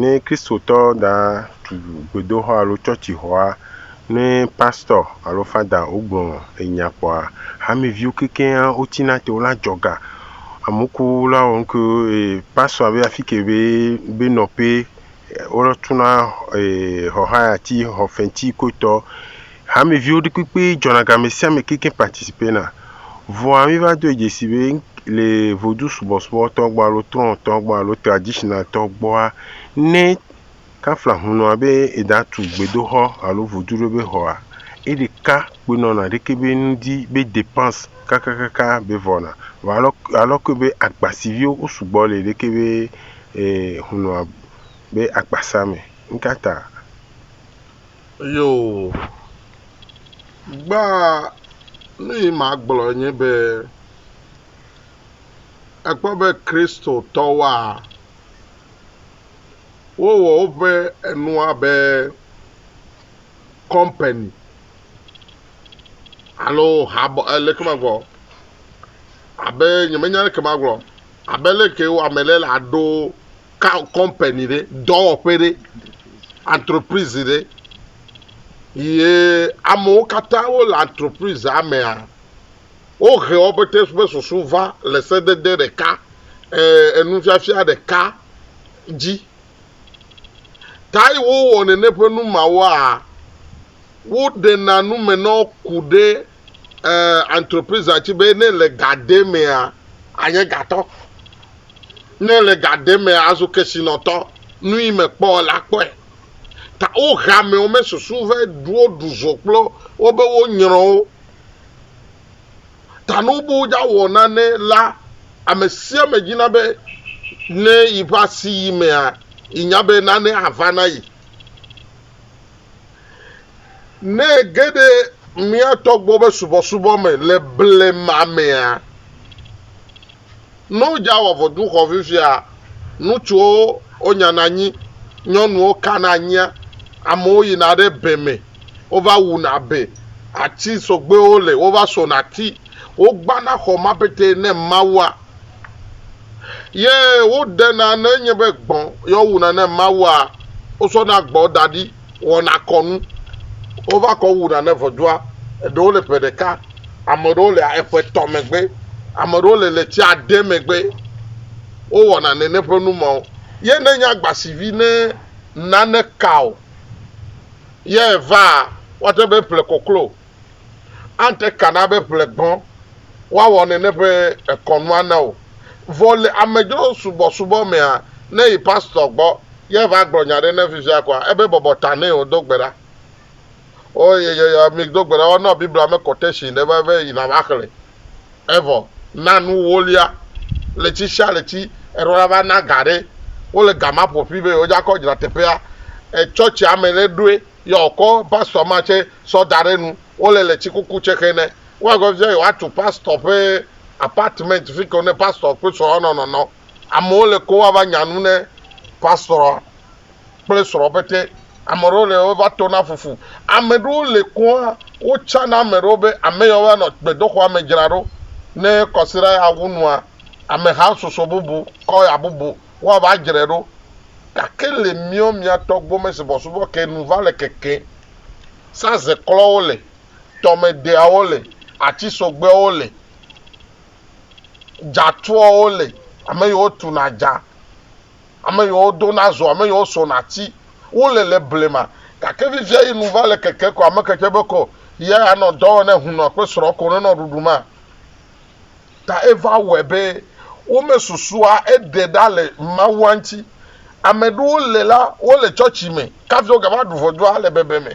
Ne Kristotɔ da tu gbedoxɔ alo tsɔtsixɔa, ne pastɔ alo fada wogblɔ enya kpɔa, hameviwo kekeŋa wotsina te, wona dzɔ ga. Amewo ku wona wɔ nuke eye pastɔa be afike be be nɔƒe wotuna xɔ hayati, xɔ fetsi kotɔ. Hameviwo ɖi kpekpe dzɔna ga me sia me kekeŋ participena. Vɔa mi va dɔe dzesi be le vodu subɔsubɔ tɔ gbɔ alo trɔ tɔ gbɔ alo traditional tɔ gbɔa, ne kafla hunɔa be eda tu gbedoxɔ alo vodu ɖe be xɔa, eɖeka kpoe nɔna ɖeke be nu di be depense kakakaka be vɔna. Vɔa alɔ alɔ koe be agba si viwo wo sugbɔ le ɖeke be e hunɔa be akpasa me. Ŋkata? Yoo, gbaa nuyi magblɔ nye be, èkpɔ be Kristotɔwoa, wowɔ woƒe enua be kɔmpani alo habɔ leke magblɔ abe nyemenya leke magblɔ abe leke wɔ ame ɖe la ɖo. company ɖe, dɔwɔƒe ɖe, entreprise ɖe ye amewo katã wole entreprisea mea, wohe wo pɛtɛ ƒe susu va le sedede ɖeka, enufiafia ɖeka dzi. Tayi wowɔ nene ƒe numawoa, woɖena nume na wo ku ɖe. entreprise a tsi be ne le ga ɖe mea anye gatɔ ne le ga ɖe mea azu kesinɔtɔ nui me kpɔ la kpɔe ta wo ha mewo me susu ve ɖuwo ɖu zo kplo wo be wo nyrɔ wo ta ne wo be wo dza wɔ nane la ame sia me dzi na be ne yi ƒe asi yi mea yi nya be nane ava na yi Ne ege ɖe mía tɔ gbɔ be subɔsubɔ me le blema mea, ne wodzaa wɔ vodunxɔ fifia, ŋutsuwo wonyana anyi, nyɔnuwo kana anyia, amewo yina ɖe be me, wova wuna be, ati sɔgbewo le, wova sona ati, wogbana xɔ ma petee ne Mawua, ye woɖena ne enye be gbɔ̃ ye wowuna ne Mawua, wosɔna gbɔ̃ da ɖi. wɔna kɔnu. Wova kɔ wuna ne ŋɔdua. Eɖewo le ƒe ɖeka, ame aɖewo le eƒe etɔ̃ megbe, ame aɖewo le ɣleti ade megbe. Wowɔna nene ƒe nu ma wo. Ye ne nye agbasivi ne nane ka o, ye vaa, woate ŋu be eƒle koklo Ante ka na be ƒle gbɔ woawɔ nene ƒe ekɔnua na wò. Vɔ le amedzro subɔsubɔ mea, ne yi pastor gbɔ ye va gblɔ nya ɖe ne fifia koa, ebe bɔbɔ ta nɛ o do gbe ɖa. O ye ye ye mi do gbe ɖa woanɔ Biblia me quotation ɖe va be yina va xlẽ. Evɔ na nu wolia ɣleti sia ɣleti eɖo la va na ga ɖe wole gama ƒoƒi be yewo dza kɔ dzra teƒea. E church ame ɖe ɖoe. Yɔ wòkɔ pastor ma tsɛ sɔ da ɖe nu. Wole le tsikuku tsɛ xe nɛ. Woagbe fifia yewoatu pastor ƒe apartment fi ke ne pastor kple srɔ̃a nɔ nɔnɔ. Amewo le ko woava nya nu ne pastor kple srɔ̃ pɛtɛ. Ame ɖewo le wova tona fufu. Ame ɖewo le koa, wotsa na ame ɖewo be ame yawo va nɔ gbedoxɔa me dzra ɖo. Ne kɔsiɖa ya wu nua, ameha susu bubu kɔ ya bubu. woava dzre ɖo. Gake le miɔ mia tɔ gbome subɔsubɔ ke nu va le keke, sa ze klɔwo le, tɔme deawo le, atsi sogbewo le, dza tuɔwo le, ame yiwo tu na dza, ame yiwo do na zo, ame yiwo so na tsi, wo le le blema. Gake vivia yi nu va le keke ko ame ke tse be ko ye anɔ dɔ wɔ ne hunɔ kpe srɔ ko ne nɔ ɖuɖu ma. Ta eva wɔe be womesusua eɖe ɖa le Mawua ŋuti. Ame ɖewo le la, wole tsɔtsi me, kafi wogava ɖu ʋɔdua le bebe me.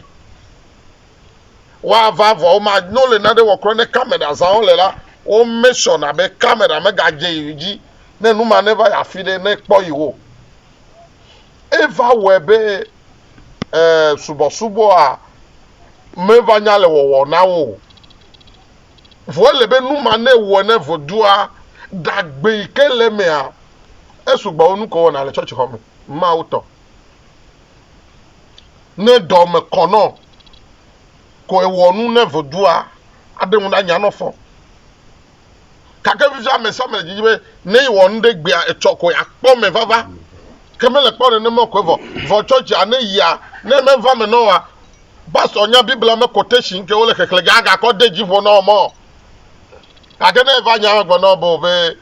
Woava vɔ woma, ne wole nane wɔ kura ne kamera zã wole la, wome sɔna be kamera megadze yi dzi ne nu ma neva yi afi ɖe ne kpɔ yi wo. Eva wɔe be e subɔsubɔa meva nya le wɔwɔ na wo o. Vɔ ele be nu ma ne wɔ ne vodua ɖagbe yi ke le emea, esu gbɔ wu nu ke wɔna le tsɔtsixɔ me. Mawu tɔ. Ne dɔ me kɔ nɔ ko ewɔ nu ne vodua, aɖe ŋu ɖanya nɔ fɔ. Gake fifia ame sia ame le didi be ne yewɔ nu ɖe egbea, etsɔ ko yeakpɔ me vava. Ke mele kpɔ nenema o ko vɔ. Vɔ tsɔtsia ne yia, ne meva me nɔ oa, Ba sɔ nya Biblia me quotation kewo le xexlẽ gã gakɔ de dzi ƒo nɔ mɔ. Gake ne eva nya gbe nɔ bo be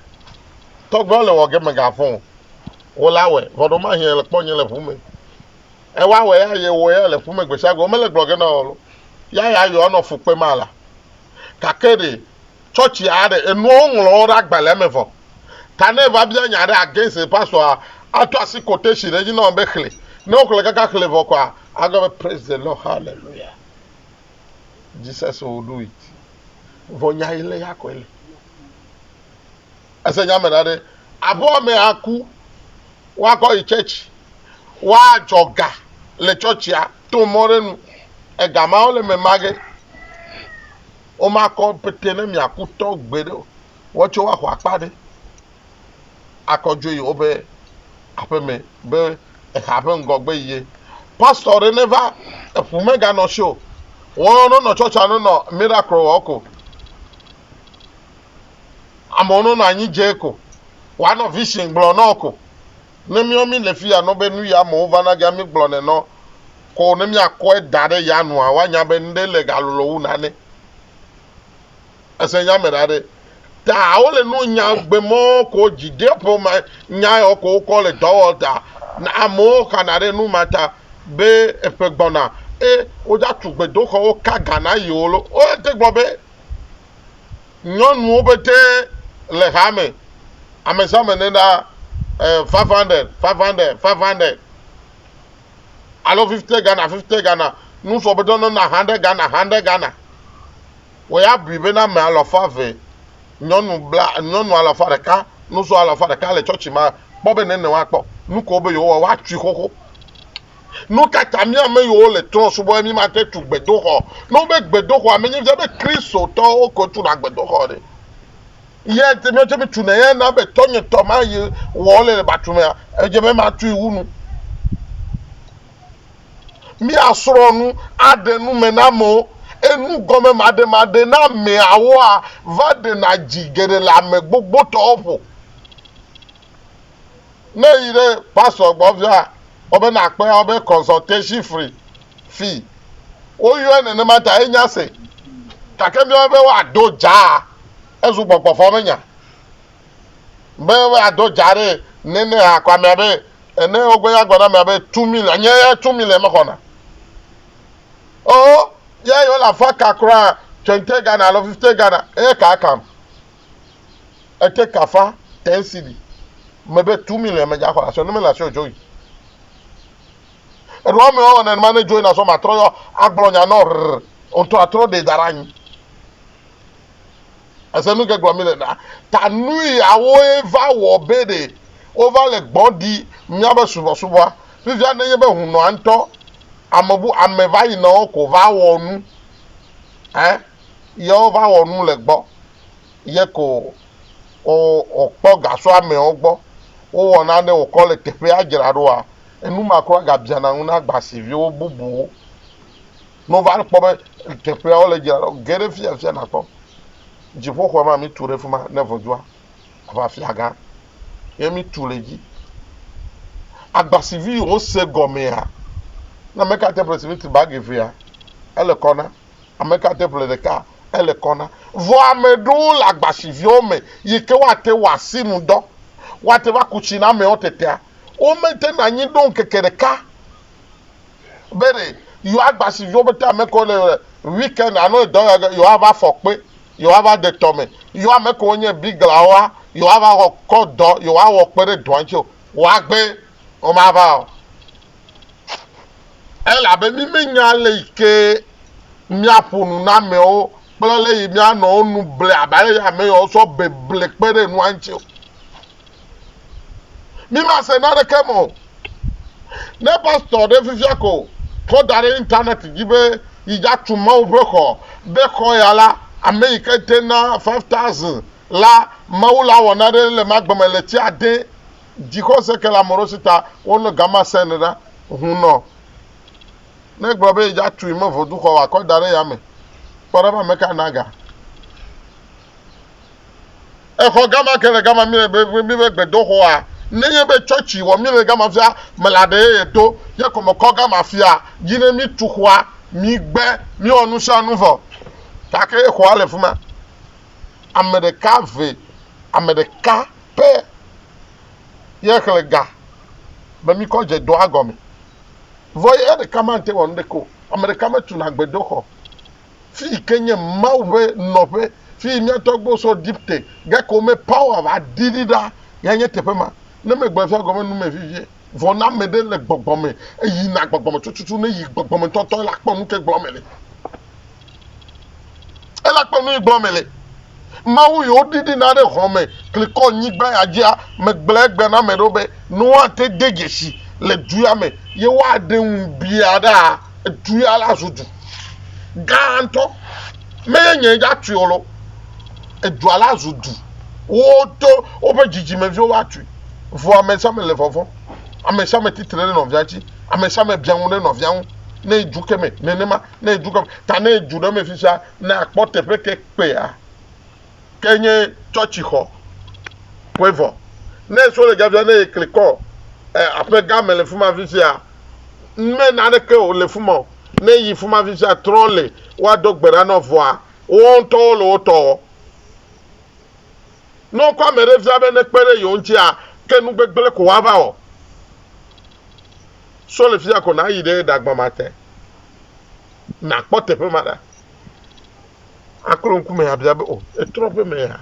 tɔgbewo le wɔ ge me ga fɔn wo la wɛ vɔ ɖo mahi ele kpɔ nye le ƒu me. Ewa wɛ ya ye wɔ ya le ƒu me gbesiagbe wo mele gblɔ ge nɔ lo. Ya ya yɔ nɔ fu kpe ma la. Gake ɖe. tsɔtsi aɖe enuɔ woŋlɔwo ɖe agbalẽa me vɔ. Ta ne eva bia nya ɖe against pastor ato asi quotation ɖe edzi na wo be xli. Ne wo xle kaka xli vɔ kɔa agblɔ be praise the Lord hallelujah Jesus will do it. Vɔ nya yi le ya kɔe le. Ese nya me ɖa ɖe abo ame aku woakɔ yi church woadzɔ ga le tsɔtsia to mɔ ɖe nu. Ega mawo le me mage. Womakɔ pete ne miaku tɔ gbeɖe o. Woatsɔe woaxɔ akpa aɖe akɔ dzo yi woƒe aƒeme be exa ƒe ŋgɔgbe yie. Pastor ɖe neva, eƒu meganɔ si o. Woawo nonɔ church a nonɔ miracle wɔ ko. Amewo nonɔ anyi dze ko. Woanɔ vision gblɔ nɔ ko. Ne míɔ mí le fiya nɔ be nu yi amewo va na gea mí gblɔ nɛ nɔ kɔo ne mía kɔe da ɖe ya nua wa nya be ŋɖe le ga lolo wu nane. Ese nya me ɖa ɖe. Ta wo le nuo nya gbe mɔ ko dzi ɖe ƒe ma nya yɔ ko wo kɔ le dɔ wɔ ta na amewo xa na ɖe nu ma ta be eƒe gbɔ na e wo dza tu gbe do xɔ wo ka ga na yi wo lo. Wo te gblɔ be. nyɔnuwo pete le ha me. Ame sia ame ne ɖa eh, 500, 500, 500. Alo 50 Ghana, 50 Ghana. Nusɔ be dɔnɔ na 100 Ghana, 100 Ghana. Wɔ ya bui be na ame alafa ve, nyɔnu bla, nyɔnu alafa ɖeka, nusɔ alafa ɖeka le tsɔtsi ma kpɔ be nene woakpɔ. Nuko be yewowa, woatui xoxo. Nu ka ta mía ame yiwo le trɔ̃ subɔm mímate tu gbedoxɔ? Ne wobe gbedoxɔa menye fia be Kristotɔwo koe tuna gbedoxɔ ɖe, eya ŋuti míawo tsɛ míetunɛ eya na be tɔnye tɔ ma yi wɔ wole le batumea, edze be matui wu nu. Míasrɔ̃ nu aɖe nu me na amewo. Enugɔmemaɖemaɖe na ameawoa va ɖena dzi geɖe le ame gbogbotɔwo ƒo. Ne èyi ɖe pastor gbɔ via, wɔ be nàkpɔe awɔ be consultation free fee. Woyɔe nenema ta enya ese. Gake míawo be woado dzaa ezu gbɔgbɔvɔmenya. Be woado dzaa ɖe nene hakɔ amea be ene wogbe ya gblɔ na amea be two million nye ya two million mexɔna. Oh, ya yi wole afɔ ka kura twenty Ghana alo fifty Ghana eye ka ekam. Ete kafa tensili me be tu mi le eme dza xɔ asɔ ne me la sɔ join. Eɖo ame wa wane ma ne join asɔ ma trɔ yɔ agblɔ nya nɔ rr ontɔ atrɔ de dara nyi. Ese nu ke gblɔ mi le na ta nui awo eva wɔ be de wo va le gbɔ di mia be subɔ subɔa fifia ne nye be hunɔ antɔ amebu ame va yi nɔ ko va wɔ nu eh yeo va wɔ nu le gbɔ ye ko o o kpɔ gasɔ amɛwo gbɔ wo wɔ nane o kɔ le teƒea dzra ɖo a enu ma kura ga biana ŋu na gbasiviwo bubuwo no va kpɔ be teƒea wo le dzra ɖo ge ɖe fia fia na kpɔ dziƒo xɔ ma mi tu ɖe fima ne vɔdzua va fia gã ye mi tu le dzi agbasivi yi wo se gɔmea na meka te presidenti ba gevea ele kɔ na Ame ka te ƒle ɖeka ele kɔ na? Vɔ ame ɖewo le agbasiviwo me yi ke woate wɔ asinudɔ. Woate va ku tsi na amewo tetea? Womete na anyi ɖo ŋkeke ɖeka be ɖe yewoa agbasiviwo be te ame kewo le weekend alo edɔ ya ge yewoava afɔ kpe, yewoava de tɔ me, yewo ame kewo nye biglawoa yewoava xɔ kɔ dɔ yewoawɔ kpe ɖe dɔa ŋuti o. Woagbe? Womava o. Elabe mí menya ale yi ke míaƒo nu na amewo kple ale yi míanɔ wo nu ble abe ale yi ame yawo sɔ beble kpe ɖe nua ŋuti o. Mí mase naneke me o. Ne pastor ɖe fifia ko kɔ da ɖe internet dzi be yi dza tu Mawu ƒe xɔ be xɔ ya la, ame yi ke te na five thousand la, Mawu la wɔ nane le ema gbe me le tsi ade Dzixɔse ke le ameɖewo si ta wonɔ gama sẽn ɖa. Hunɔ ne gblɔ be yedza tui me voduxɔ wakɔ da ɖe yame. Kpɔ ɖa be ameka na ga. Exɔ gama ke le gama mi le be mi be gbedoxɔa. Nenye be tsɔtsi wɔ mi le gama fia mele aɖe ye yedo ye kɔme kɔ gama fia dzi ne mi tu xɔa mi gbe mi wɔ nusianu vɔ gake ye xɔa le fima. Ameɖeka ve ameɖeka. pɛ ye xlẽ ga be mikɔ dze dɔa gɔme. Vɔ eya ɖeka mate wɔ nuɖeke o. Ame ɖeka metuna gbedoxɔ, fi yi ke nye Mawu ƒe nɔƒe, fi yi mía tɔgbuiwo sɔ Egipte, gake womepaoa va ɖiɖi ɖa, yae nye teƒe ma. Ne megblɔe fia gɔme nu me vivie. Vɔ ne ame ɖe le gbɔgbɔ me, eyi na gbɔgbɔ me tututu, ne yi gbɔgbɔ me ŋutɔtɔ, ela kpɔ nuke gblɔ me le. Ela kpɔ nuyi gblɔ me le. Mawu yi wo ɖiɖi na ɖe hɔn me klikɔ nyigba ya dzia, me gblɔ egbe na ame ɖewo be, ne woa te de dzesi le du ya me, ye woa ɖe ŋu biaɖa. du ya la zu du gãtɔ, menye nyee dzatui o loo, edua la zu du, wodo woƒe dzidzimeviwo va tui, vɔ amesiame le vɔvɔ̃m, amesiame tsi tre ɖe nɔvia ŋuti, amesiame biã nu ɖe nɔvia ŋu, ne edu ke me, nenema, ne edu ke me, ta ne edu ɖe eme fifia, ne akpɔ teƒe ke kpea, ke nye tsɔtsixɔ koe vɔ. Ne so le dzadzra ne yekli kɔ e, aƒe gã me le fuma fisia, me naneke o le fuma o. Ne yi fuma fisia trɔ le wa do gbe ɖa nɔ vɔa, wo ŋutɔwo le wo tɔ wɔ. Ne wokɔ ame ɖe fia be ne kpe ɖe yewo ŋutia, ke nu gbegble ko wa va wɔ. So le fia ko na yi ɖe ɖagbamate, na kpɔ teƒe ma ɖa. Aklo ŋkume abia be, O, etrɔ ƒe me ya?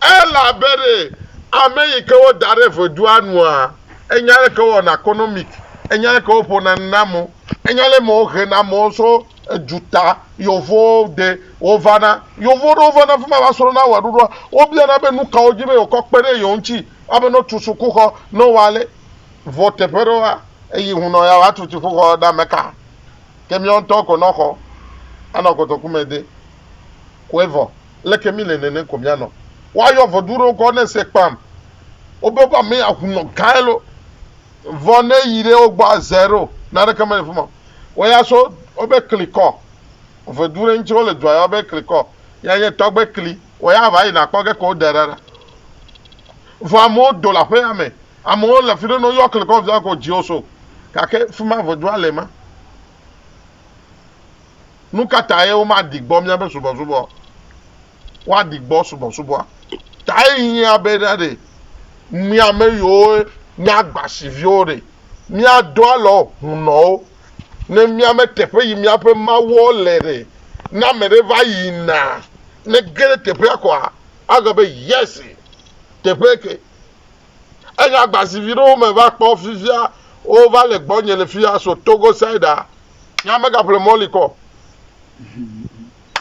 Elabe ɖe ame yi ke woda ɖe vodua nua, enya ale ke wowɔna konomik, enya ale ke woƒona nu na amewo, enya ale me wohena amewo tso eduta yevowo ɖe wovana. Yevu ɖewo vana afi ma va srɔ̃na wɔɖuɖua. Wobiana be nu kawo dzi be yewoakɔ kpe ɖe yewo ŋuti abe ne wotu sukuxɔ, ne wowɔ ale. Vɔ teƒe ɖewoa, eyi ŋunɔ ya woatu dziƒoxɔ ɖe ame ka? ke miawo ŋutɔ ko nɔ xɔ anɔ kotoku me de ko evɔ leke mi le nene ko mianɔ wa yɔ vɔ duɖo kɔ ne se kpam wo be ba me ahu nɔ gae lo vɔ ne yi ɖe wo gbɔ aze ɖo na ɖeke me le fuma wo ya so wo be kli kɔ vɔ duɖe ŋutsi wo le dua yɔ be kli kɔ ya nye tɔgbe kli wo ya va yi na kpɔ ge ko wo de ɖa ɖa vɔ amewo do la ƒe ya me Amewo le fiɖe no yɔkle kɔ via ko dzio so gake fima ʋedua le ma. Nukatae wo ma ɖi gbɔ miabe subɔsubɔ? Wa ɖi gbɔ subɔsubɔa tae hiã be ɖa ɖe mia me yiwo nye agbasi viwo ɖe mia do alɔ hunɔwo ne mia me teƒe yi miaƒe mawuɔ le ɖe. Ne ame ɖe va yi na ne ge ɖe teƒea koa agbe be yesi teƒe ke Eyi agbazi vi ɖewo me va kpɔ fifia wova le gbɔnye le fia so Togo side a. Nye amegaƒle Molly kɔ.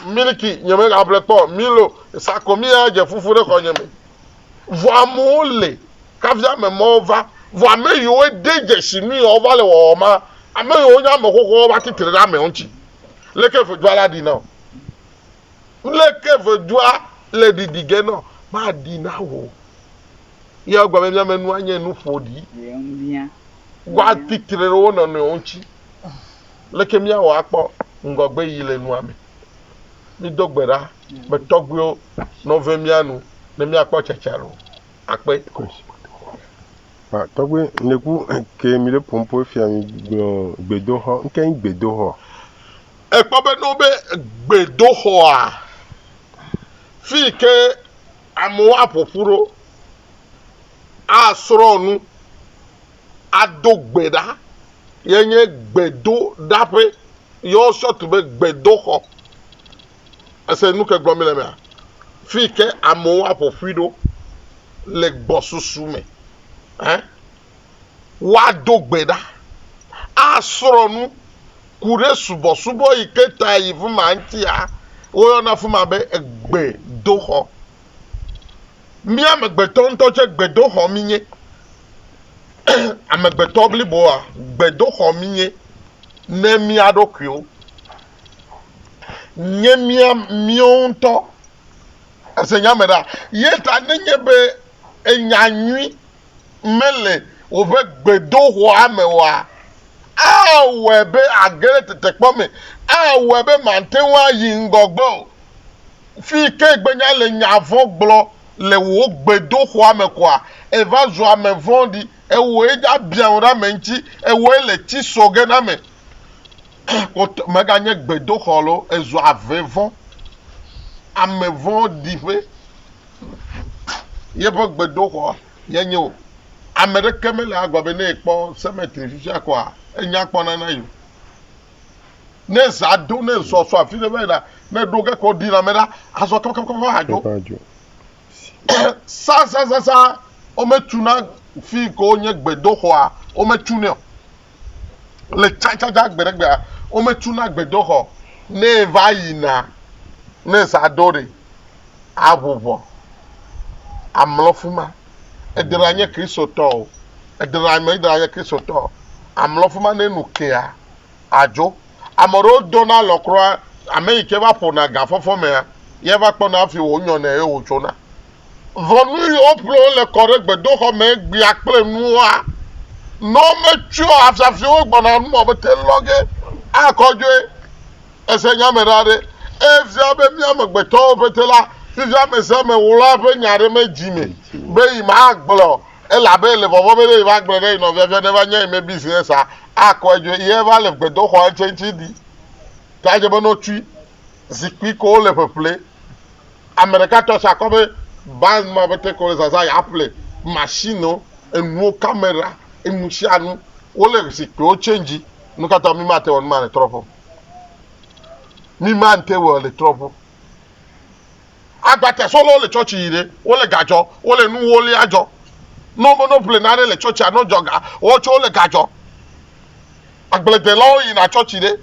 Miliki nye megaƒle kpɔ. Milo sakomi ya dze fufu ɖe xɔnye me. Vɔ amewo le kafi ame mɔwo va. Vɔ ame yiwo de dzesi nu yewo va le wɔwɔ ma, ame yiwo nye ame xoxowo va titre ɖe amewo ŋuti. Leke ƒe dua la ɖi na wo? Leke vedua le ɖiɖi ge nɔ maɖi na wò o? Yea gblɔ be, Miame nua nye nu ƒoɖi. Woati tre ɖe wo nɔnɔewo ŋuti. Leke míawɔ akpɔ ŋgɔgbeyiyi le nua me? Mído gbe ɖa be, Tɔgbuiwo, nɔ ve mía nu ne míakpɔ tsatsa ɖo akpe. Tɔgbuiwo, ŋɖe ku ke mi ɖe ƒom ƒo efia mi gblɔ gbedoxɔ. Ŋke nyi gbedoxɔ? Ekpɔ be ne wobe gbedoxɔa, fi yi ke amewo aƒo ƒu ɖo asrɔ̃ nu, ado gbe ɖa ye nye gbedoɖaƒe, ye wosɔ tu be gbedoxɔ. Ese nu ke gblɔm míle mea? Fi yi ke amewo aƒo ƒui ɖo le gbɔsusu me. Ɛ? woado gbe ɖa, asrɔ̃ nu, ku ɖe subɔsubɔ yi ke ta yi fi ma ŋutia, woyɔna afi ma be gbedoxɔ. Mía amegbetɔ ŋutɔ tsɛ gbedoxɔ mínye. Amegbetɔ bliboa, gbedoxɔ mínye ne mía ɖokuiwo. Nye mía míwo ŋutɔ, ese nya me ɖa? Ye ta nenye be enya nyui mele wòƒe gbedoxɔa me oa, awɔe be age ɖe tetekpɔ me, awɔe be màte ŋu ayi ŋgɔgbe o. Fii ke gbe nye ale nya vɔ̃ gblɔ le wò gbedoxɔa me koa, èva zu ame vɔ̃ɖi, ewɔe nye abiãŋu ɖe ame ŋuti, ewɔe le tsi sɔ ge na ame. Kpɔtɔ meganye gbedoxɔ loo, ezu ave vɔ̃, ame vɔ̃ɖi ƒe. Yeƒe gbedoxɔ yenye o. Ame ɖeke mele agba be ne yekpɔ cemetery fifia koa, enya kpɔna na ye o. Ne zã do, ne zɔ so afi ɖe va yina, ne ɖo ge ko ɖi lãme ɖa, azɔ kakakaka adzo. Sasasasa wometuna fi ke wonye gbedoxɔa, wometunɛ o. Le tsãtsãtsã gbeɖegbea, wometuna gbedoxɔ ne va yina ne zã ɖo ɖi aʋu vɔ amlɔ fi ma. Eɖe la nye Kristotɔ o, eɖe la me ɖe nye Kristotɔ o, amlɔ fi ma ne nu kea adzo. Ame aɖewo dona alɔ kura, ame yi ke va ƒona gafɔfɔ mea, ye va kpɔna hafi wonyɔnɛ ye wòtsona. Ʋɔnu yi woƒlɔ le kɔ ɖe gbedoxɔ me egbea kple nua. Nɔ metsyɔ afiafiwo gbɔna nu mɔ bete lɔ ge akɔ dzoe. Ese nya me ɖa ɖe? Efia be mía amegbetɔwo ƒete la, fifia ame sia ame ɣlɔa eƒe nya ɖe me dzi me be yi magblɔ o, elabe ele vɔvɔ̃ be ne yi magblɔ ɖe yi nɔvia fia neva nya yi me bizinɛs a, akɔe dzoe. Yi eva le gbedoxɔa ŋtse ŋtsi ɖi ta dze be nɔ tsui zikpui ko wole ƒeƒle. Ame ɖeka tsɔ se akɔ be band ma ƒe take wole zazã ya ple machine wo, enuwo, camera, enu sia nu. Wole zikpuiwo change. Nu ka ta mi mate wɔ numa le trɔƒe o? Mi mate wɔ le trɔƒe o. Agbate sɔlewo le church yi ɖe, wole ga dzɔ, wole nu wolia dzɔ. Ne wobe no ple nane le church a no dzɔ ga, woawo tsɛ wole ga dzɔ. Agbledelawo yina church ɖe,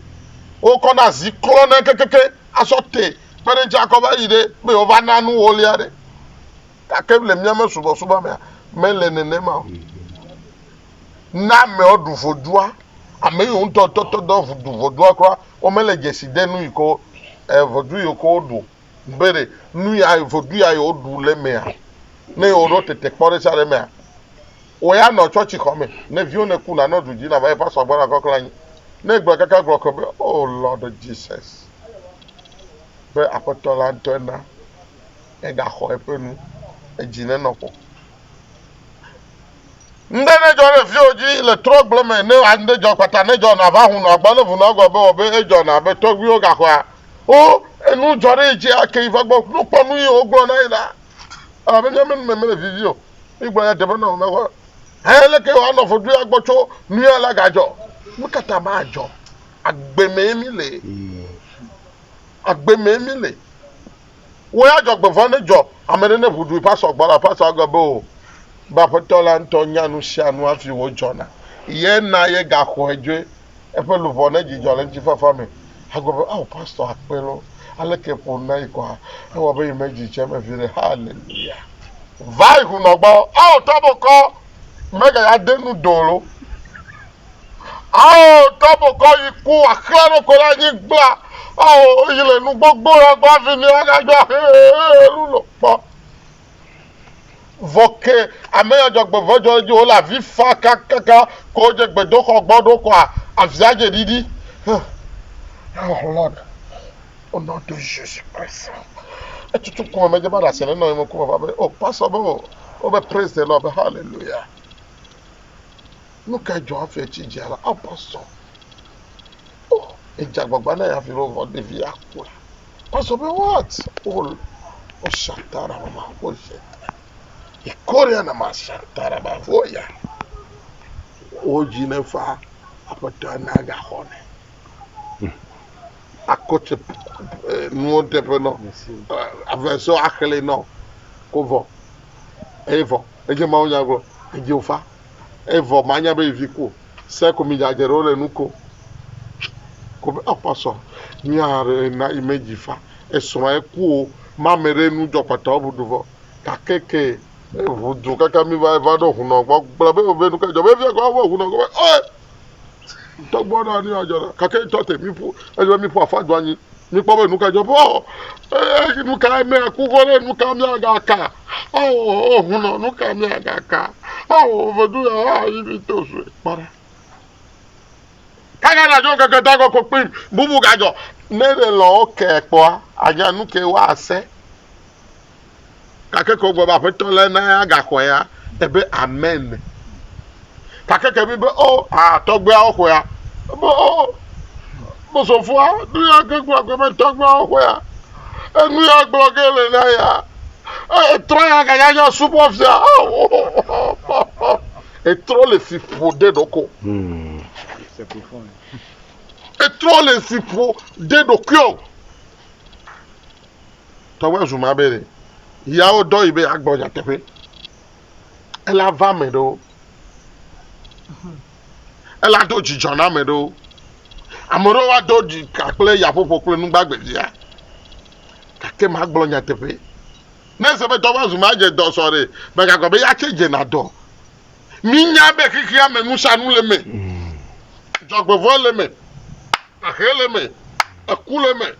wokɔna zi klɔnɛ kekeke. asɔ te kpe ɖe eŋuti akɔ va yi ɖe be yewoava na nu wɔlia ɖe. Gake le míame subɔsubɔ mea, mele nenema o. Ne amewo ɖu vodua, ame yiwo ŋutɔ tɔtɔ dɔ ɖu vodua kura, womele dzesi de nu yi ke wo eh, vodu yiwo ke woɖu be ɖe nu ya vodu ya yewoɖu le emea, ne yewoɖo tetekpɔ ɖe sia ɖe emea, Wò ya nɔ tsɔtsi xɔ me. Ne viwo ne ku na nɔ du dzi na va eƒa sɔ gbɔ na kɔ kle anyi. Ne egblɔ kaka gblɔ ke be oh Lord Jesus be aƒetɔ la ŋtɔe na ega xɔ eƒe nu. Edzi ne nɔ ƒo. Ŋɖe ne dzɔ ɖe viwo dzi le trɔ gble me ne a ŋɖe dzɔ kpata ne dzɔ na va hu nɔ agbɔ ne vu nɔ gɔ be wɔ be edzɔ na be tɔgbuiwo ga xɔa wo enu dzɔ ɖe yi dzi ake yi va gbɔ nu kpɔ nu yi wo gblɔ na yi la. Elabe mía me nu me mele vivi o. Egblɔ ya teƒe nɔ mekɔ. He leke wa nɔ fodu ya gbɔ tso nu ya la ga jɔ. Nu ka ta ma jɔ? Agbe me mi le. Agbe me mi le. Wo ya jɔ gbe vɔ ne jɔ. Ame ɖe ne ƒu du pasɔ gbɔ la pasɔ agbe be o. Be aƒetɔ la ŋutɔ nya nu sia nu afi wo jɔna. Ye na ye ga xɔe dzoe. Eƒe luʋɔ ne dzidzɔ le ŋutifafa me agblɔ be, Ao, Pastor Akpe loo, aleke ƒo na yi kɔa? Ewɔ be yi me dzi tse eme viɖe. Hallelujah! Va yi hunɔ gbɔ. Ao, tɔbokɔ mega ya de nu do lo. Ao, tɔbokɔ yi ku axlẽ ɖo ko la nyi gbla. Ao, yi le nu gbogbo la gbɔ avi ni aga jɔ ahe elu lo kpɔ. Vɔ ke ameyɔ dzɔgbevɔdzɔ edzi wole avi fa kakaka ko wodze gbedoxɔ gbɔ ɖo koa avia dze ɖiɖi. Oh Lord, au nom de Jésus Christ. Etutu ku me medze va ɖe asi ne nɔ ye me ku me va be oh pastor be oh wo be praise the Lord be hallelujah. Nu ka dzɔ hafi etsi dzi ala ah pastor. Oh, edze agbagba na ya viɖe vɔ ɖevi ya kpɔe. Pastor be what? Oh, oh shantara mama oh shantara. Ikoria na ma shantara ba oh ya. Oh dzi ne fa aƒetɔ na ga xɔ ne. Akɔtse eh, nuwo teƒe nɔ. Avesɔ axle nɔ. Ko vɔ. Eye vɔ. Edze mawo nyagblɔ. Edze ofa. Evɔ manya be vi ko se ko mi jadje ɖewo le nu ko. Ko be apasɔ mi a re na ime ji fa esɔ ma eku o ma me re nu jɔ kpata o budu vɔ ka ke ke ehu du kaka mi va va ɖo hunɔ gbɔ gbla be be nu ke jɔ be via gbɔ be hunɔ gbɔ be ɔɛ. Tɔgbɔ na ni adzɔ na kake tɔ te mi ƒu edzɔ mi ƒu afa do anyi mi kpɔ be nu ka dzɔ be ɔ ee nu ka me aku kɔ ɖe nu ka mi aga ka ɔ ɔ hun nɔ nu ka mi aga ka ɔ ɔ ve du ya ɔ yi mi to zue kpɔ ɖa kaka na dzɔ keke ta kɔ kɔ kpim bubu ga dzɔ ne le lɔ kɛ kpɔa anya nu ke wa ase Gake ke wògblɔ be Aƒetɔ la na ya gaxɔe ya, ebe amen. Gake ke bi be o, oh, aa, tɔgbeawo xɔe ya, ebe o, oh, bosofua, nu ya ke gblɔ gbe be tɔgbeawo xɔe ya, enu ya gblɔ ge le na ya, etrɔ ya ganya nya subɔ fia, oh, etrɔ le si ƒo ɖe ɖoko. Hmm. Etrɔ le si ƒo ɖe ɖokuiɔ. Tɔgbe Zuma be ɖe ya wodɔ yi be yeagblɔ nyateƒe. Ele ava ame ɖewo. Ele ado dzidzɔ na ame ɖewo. Ame ɖewo woado dzi ka kple yaƒoƒo kple nugbagbe sia. Gake magblɔ nyateƒe. Ne ese be Tɔgbe Zuma dze dɔ sɔ ɖe, megagblɔ be ya tse dzena dɔ. Minya be xexea me nusianu le eme. Dzɔgbevɔ̃e le eme. Ahe le eme. Eku le eme.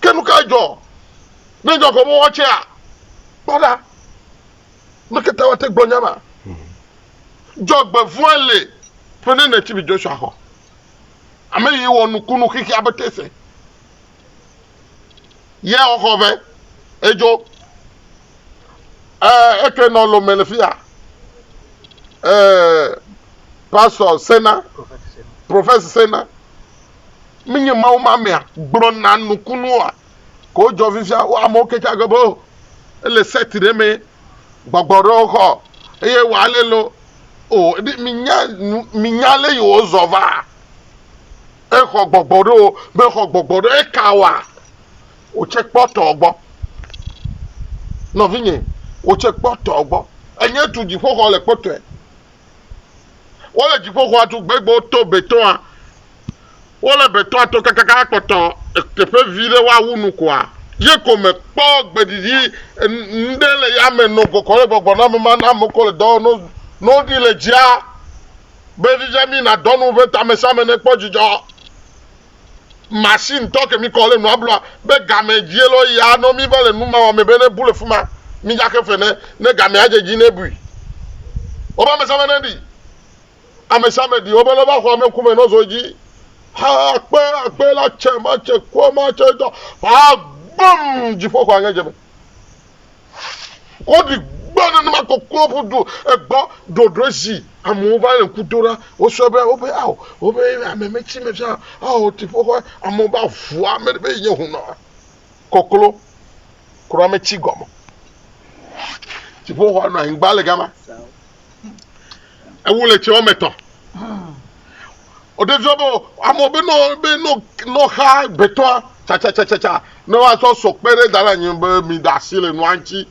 Ke nu kae dzɔ ne dzɔ gɔme wɔ tsea? Kpɔ ɖa, ame ka ta woate ŋu gblɔ nya ma? Dzɔgbevɔ̃e li ƒe neneti bi Joshua xɔ. Ame yi wɔ nukunu xixi abe tese. Ye xɔ ve edzo. Ee, eke nɔ lo me le fia. Ee, Pastor Sena, Professor Sena. menye Mawu ma mea gblɔna nukunu oa? Ke wojɔ fifia wo amewo ke tsa gbe be o ele set ɖe me gbɔgbɔ ɖewo xɔ eye wɔ ale lo o ɖi minya minya le yi wozɔ va exɔ gbɔgbɔ ɖewo be xɔ gbɔgbɔ ɖe eka wa wotse kpɔtɔ gbɔ nɔvinye wotse kpɔtɔ gbɔ enye tu dziƒoxɔ le kpɔtɔe Wole dziƒoxɔa tu gbegbewo to betɔ̃a. Wole betɔ̃a to kakaka kpɔtɔ teƒe vi ɖe woawu nu koa, ye ko mekpɔ gbeɖiɖi ŋɖe le yame nɔ gɔgɔm le gbɔgbɔname ma na ame ko le dɔ wɔm ne woɖi le dzia be Viviamina dɔnu ƒe tamesẽame ne kpɔ dzidzɔ. machine tɔ ke mi kɔ le nua blua be game dzie lɔ ya nɔ mi va le nu ma wame be ne bu le fuma mi dza ke fe ne ne game ya dze dzi ne bui o ba me sa me ne di ame sa me di o be lɔ va xɔ ame kume nɔ zo dzi ha akpe akpe la tse ma tse kɔ ma tse dɔ ha gbɔm dziƒo xɔ ange dze me Woɖi gbɔ nenema koklo ƒu do egbɔ ɖoɖo zi amewo va le ŋku do ɖa. Wosɔ be wobe ao wobe ame me tsi me fia ao ti ƒo xɔ amewo ba vua me be nye hunɔ koklo kura me tsi gɔme. Ti ƒo xɔ nɔ anyigba le gama. Ewu le tse wɔme etɔ̃. Wòde zɔ be amewo be nɔ be nɔ nɔ xa gbetɔa tsatsatsatsa ne woazɔ sɔ kpe ɖe da ɖe anyi be mi da asi le nua ŋuti.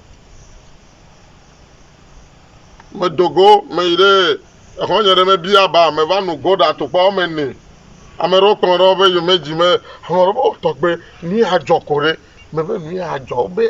Medo go meyi ɖe exɔnye ɖe mebia ba meva nu go ɖe atukpa wɔme ene. Ame ɖewo kplɔ ɖe woƒe yome dzi me ame ɖewo be tɔgbe nu ya dzɔ ko ɖe mebe nu ya dzɔ be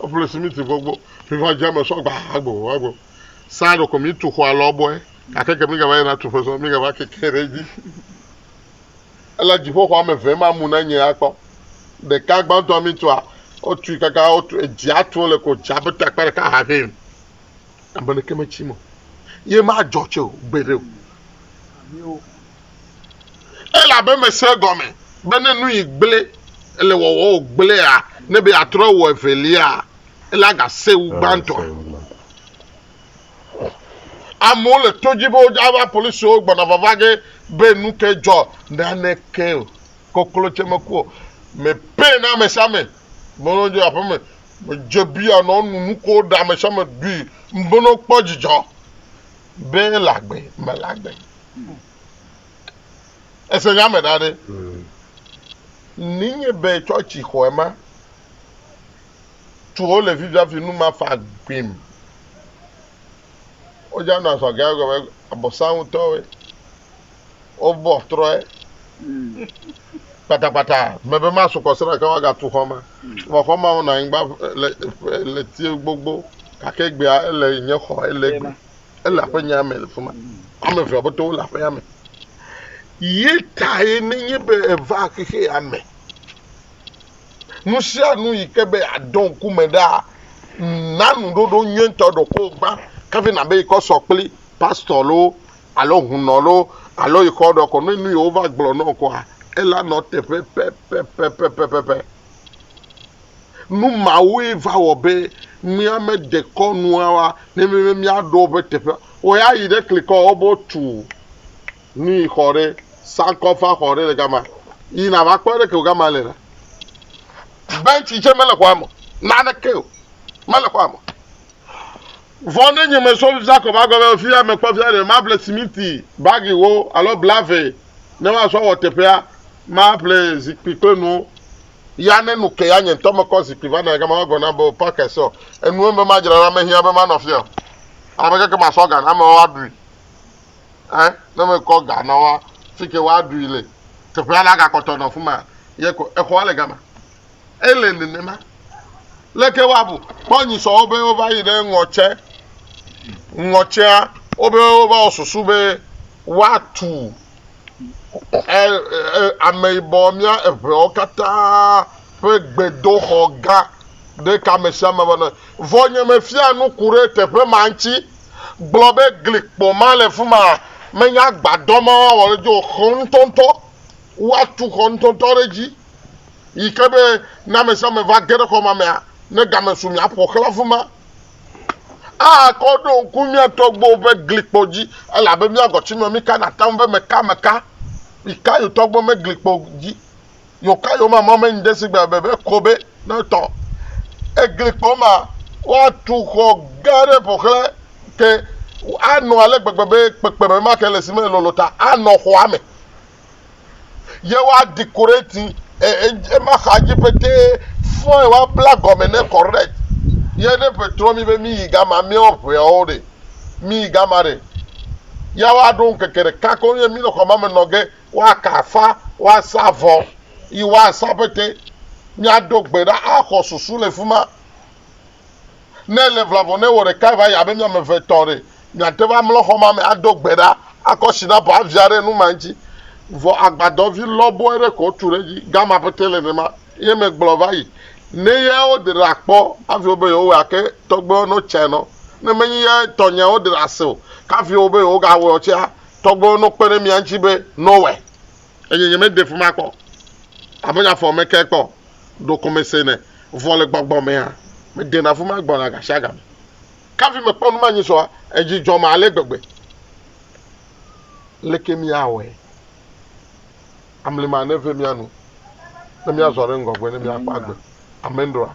Eƒle simiti vɔ gbɔ ƒiva dza me sɔ gba agbo agbo. Sa ɖeko mi tu xɔa lɔ bɔe gake ke mi gava yina tu ƒe sɔ mi gava keke ɖe dzi. Ela dziƒo xɔa me ve ma mu na nye akpɔ. Ɖeka gbãtɔ mi tua o tui kaka o tu edzi atu le ko dza be takpa ɖeka ha vɛ. Ame ɖeke me tsi mo. Ye ma dzɔ tse o gbe ɖe o. Elabe mese egɔme be ne nu yi gblẽ le wɔwɔ o gblẽa, ne be yeatrɔ awɔ evelia, ele agase wu gbãtɔa. Amewo le to dzi be wodzaa va polisiwo gbɔna vava ge be nu ke dzɔ. Naneke o. Koklo tse meku o. Me pɛ na ame sia ame. Be ne dze aƒe me, me dze biya nɔ nu nukuwo ɖa, ame sia ame ɖui. Be ne kpɔ dzidzɔ be ele agbe, mele agbe. Ese nya me ɖa ɖe. Ninye be tsɔtsi xɔe ma tu wo le fifiafi nu ma fa gbim. Wodza nɔ asɔ gã gɔme abɔsa ŋutɔe. Wobɔ trɔe. Kpatakpata me be ma sukɔ sra ke waga tu xɔ ma. Vɔ xɔ ma wonɔ anyigba le le tie gbogbo gake gbea ele nye xɔ ele gbe. Ele aƒenyaa me le fi ma. Ame evea bɔtɔ wole aƒeya me. Ye tae nenye be eva xexea me. Nu sia nu yi ke be yeadɔ ŋku me ɖaa, na nuɖoɖo nyuietɔ ɖokɔ gbã kafi nàbe yi kɔ sɔ kpli pastɔ loo alo hunɔ loo alo yi kɔ ɖɔ ko. Ne nu yi wova gblɔ nɔ ŋkɔa, ela nɔ teƒe pɛpɛpɛpɛpɛpɛ. Nu mawoe va wɔ be míamede kɔ nuawa ne míebe míaɖo woƒe teƒea. Wɔ ya yi ɖe klikɔ wo be wotu nui xɔ ɖe sankofa xɔ ɖe le gama. Yi nava kpɔ ɖe ke wo gama le na. Bentsi tse mele xɔa me o. Naneke o. Mele xɔa me o. Vɔ ne nye mesɔ Jakob agɔ be, Fiya mekpɔ fia ɖe, maƒle simiti bagiwo alo bla vɛ ne woazɔ awɔ teƒea, maƒle zikpui kple nuwo. Ya ne nu ke ya nye ŋutɔ mekɔ zikpui va nɔa gama woagblɔ nam be, O, Parker, sɔ enuwo be madzra na ame hiã be manɔ afia o. Ame keke masɔ ga na amewo aɖui. Ɛ̃, ne mekɔ ga na wo fike woaɖui le, teƒea la gakpɔtɔ nɔ afi ma ye ko. Exɔa le gama. Ele nenema. Leke woabu? Kpɔ nyisɔ wobe wova yi ɖe ŋɔtse. Ŋɔtsea wobe wova wɔ susu be woatu e, e, ameyibɔ mía eŋewo katã ƒe gbedoxɔ gã ɖeka ame sia ame ƒe nɔe. Vɔ nye mefia nuku ɖe teƒe ma ŋuti gblɔ be glikpo ma le fima menye agbadɔ ma woawɔ ɖe dzi o, xɔŋtɔŋtɔ. Woatu xɔ ŋutɔŋutɔ ɖe edzi yi ke be ne ame sia ame va ge ɖe xɔ ma mea, ne game su mia, ƒo xlã afi ma. Akɔ ɖo ŋku mía tɔgbuiwo ƒe glikpo dzi, elabe mía agɔtsimea mika na taŋ be meka meka. Mika yewo tɔgbuiwo ƒe glikpo dzi. Yewo ka yewo ma mɔ me ŋde si gbe bebe ko be ne etɔ. Eglikpo ma, woatu xɔ gã aɖe ƒo xlã ke anɔ ale gbegbe be kpekpeme ma ke le si me lolo ta anɔ xɔa me. ye woa decorate ema xa dzi pete fɔe woa bla gɔme ne correct ye ne petrɔ mi be mi yi gama miawo ʋeawo ɖe mi yi gama ɖe ya woa ɖo ŋkeke ɖeka ko ye mi le xɔma me nɔ ge woa ka afa woa sa vɔ yi woa sa pete mia do gbe ɖa axɔ susu le fima Ne èle ʋla vɔ ne wò ɖekae va yi abe mi ame eve etɔ̃ ɖe, miate ŋu amlɔ xɔ ma me ado gbe ɖa, akɔ sinapu avia ɖe nu ma ŋuti. Vɔ agbadɔvi lɔbɔe ɖe ko wotu ɖe edzi. Gama pɛtɛ le nenema. Ye megblɔ va yi ne ye wode ɖa kpɔ hafi wobe yewowɔe ake tɔgbewo no tsɛ nɔ. Ne menye ye tɔnyea wode ɖa se o, kafi wobe yewogawɔe o tsɛa, tɔgbewo no kpe ɖe mia ŋuti be nowɔe. eye nyemede fi ma kpɔ abe nye afɔ me ke kpɔ o. Ɖo ko mese ne vɔ̃ le gbɔgbɔ me hã, medena fi ma gbɔna gasiagame. Ke hafi mekpɔ numanyisɔa, edzi dzɔm ale gbegbe. Aleke míawɔe amlima neve mía nu ne míazɔ ɖe ŋgɔgbe ne míakpɔ agbe? Amendroa.